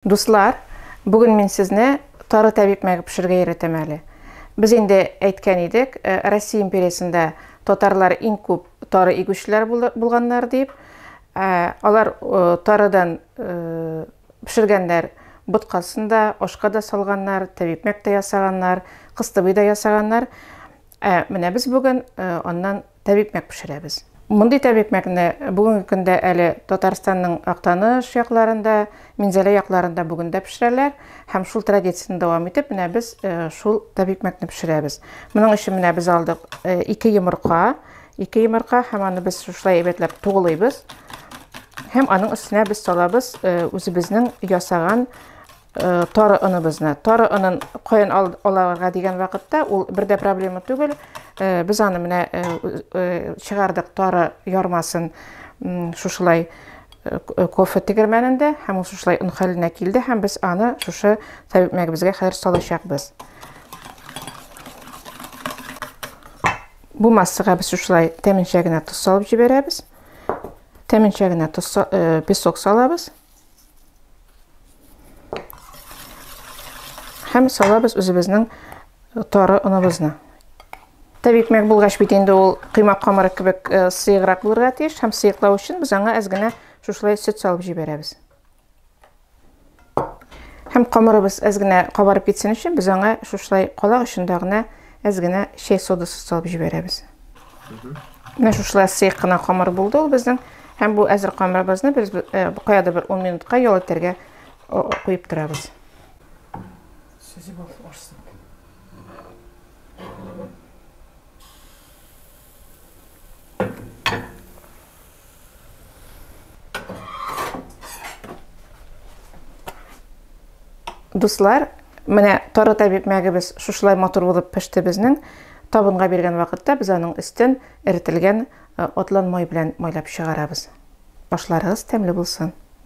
Дуслар, бүген мин сезне тары тәбип мәге пешерергә өйрәтәм әле. Без инде әйткән идек, Россия империясендә татарлар иң күп тары игүчеләр булганнар дип. Алар тарыдан пешергәннәр боткасын да, ашка да салганнар, тәбип мәк тә ясаганнар, кыстыбый да ясаганнар. Менә без бүген аннан тәбикмәк пешерәбез. Мондый тәбикмәкне бүгенге көндә әле Татарстанның Актаныш якларында, Минзәлә якларында бүген дә пешерәләр һәм шул традицияне дәвам итеп, менә без э, шул тәбикмәкне пешерәбез. Моның өчен менә без алдык э, ике йомырка, ике йомырка һәм аны без шулай әйбәтләп тугылыйбыз. Һәм аның өстенә без салабыз э, үзебезнең ясаган Э, тары оныбызны тары онын каян аларга дигән вакытта ул бер дә проблема түгел э, без аны менә э, чыгардык тары ярмасын шушылай кофе тегермәнендә һәм ул шушылай он хәленә килде һәм без аны шушы тәбипмәгебезгә хәзер салачакбыз бу массага без шушылай тәменчә генә тоз салып җибәрәбез тәменчә генә тоз песок салабыз Һәм салабыз үзебезнең тары оныбызны. Тәбикмәк булгач бит инде ул кыймак камыры кебек э, сыеграк булырга тиеш һәм сыеклау өчен без аңа әз генә шушылай сөт салып җибәрәбез. Һәм камырыбыз әз генә кабарып китсен өчен без аңа шушылай калак очында гына Әз генә чәй содасы салып җибәрәбез. Менә шушылай сыек кына камыр булды ул безнең. Һәм бу әзер камырыбызны без э, каяда бер 10 минутка ял итәргә куеп торабыз. Сүзе бул орсын. Дуслар, менә тары табиб мәгебез шушылай матур булып пеште безнең. Табынга биргән вакытта без аның өстен эрителгән э, атлан май белән майлап чыгарабыз. Ашларыгыз тәмле булсын.